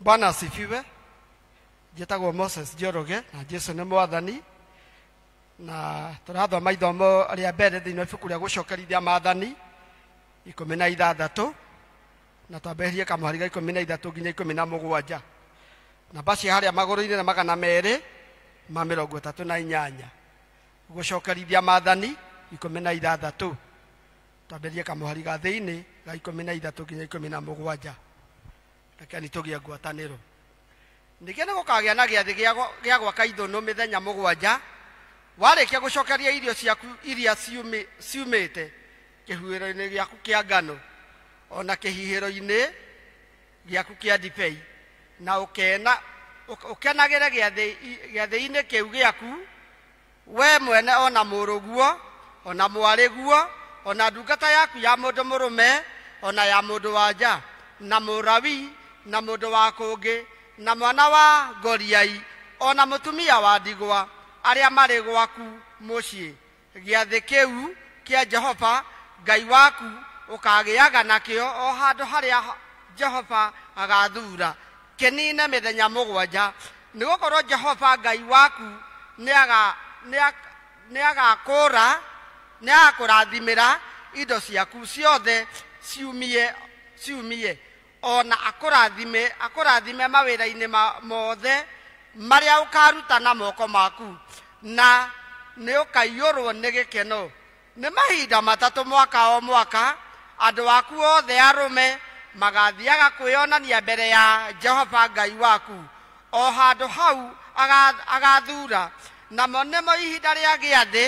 Bwana asifiwe. Njĩtagwo Moses Njoroge na Jesu nĩ mwathani na tũrathoma ithomo rĩa mbere thĩinĩ wa ibuku rĩa gũcokerithia maathani ikũmi na ithathatũ na twambe eherie kamũhari ga ikũmi na ithatũ nginya ikũmi na mũgwanja namba cia harĩa magũrũ-inĩ na magana merĩ ma mĩrongo ĩtatũ na inyanya gũcokerithia maathani ikũmi na ithathatũ twambĩrĩrie kamũhari ga thĩinĩ ga ikũmi na ithatũ nginya ikũmi na mũgwanja rekeni tũgĩe ngwatanĩro ningĩ nĩ gũkagĩa na gĩathĩ gĩa gwa- gĩa gwaka ithũnũ mĩthenya mũgwanja warĩkia gũcokeria irio ciaku iria ciumĩ- ciumĩte kĩhuhĩro-inĩ gĩaku kĩa ngano o na kĩhihĩro-inĩ gĩaku kĩa ndibei na ũkena ũk- ũkenagĩre gĩathĩ- i- gĩathĩ-inĩ kĩu gĩaku Wee mwene o na mũrũguo, o na mwarĩguo, o na ndungata yaku ya mũndũ mũrũme, o na ya mũndũ wa nja, na mũrawi, na mũndũ wa kũngĩ, na mwana wa ngoriai, o na mũtumia wa ndigwa, arĩa marĩ gwaku mũciĩ. Gĩathĩ kĩu kĩa Jehova Ngai waku ũkaagĩaga nakĩo o handũ harĩa Jehova agaathuura. Kĩniine mĩthenya mũgwanja, nĩ gũkorwo Jehova Ngai waku nĩagakũũra, nĩagakũrathimĩra indo ciaku ciothe ciumie, o na akũrathime mawĩra-inĩ mothe marĩa ũkaaruta na moko maku, na nĩũkaiyũrwo nĩ gĩkeno. Nĩ mahinda matatũ mwaka o mwaka andũ aku othe arũme magaathiaga kwĩyonania mbere ya Jehova Ngai waku, o handũ hau agaathuura, namo nĩmo ihinda rĩa gĩathĩ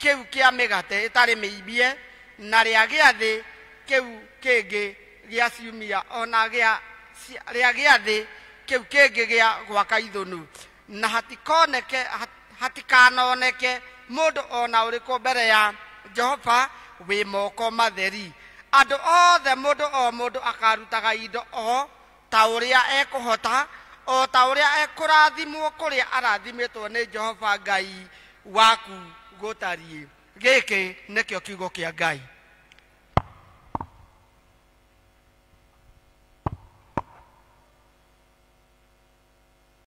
kĩu kĩa mĩgate ĩtarĩ mĩimbie, na rĩa gĩathĩ kĩu kĩngĩ gĩa ciumia, o na rĩa gĩathĩ kĩu kĩngĩ gĩa gwaka ithũnũ. na hatikoneke hatikanoneke mũndũ o na ũrĩkũ mbere ya jehova wĩ moko matheri andũ othe mũndũ o mũndũ akarutaga indo o ta ũrĩa ekũhota o ta ũrĩa ekũrathimwo kũrĩa arathimĩtwo nĩ jehova ngai waku gũtariĩ gĩkĩ nĩkĩo kiugo kĩa ngai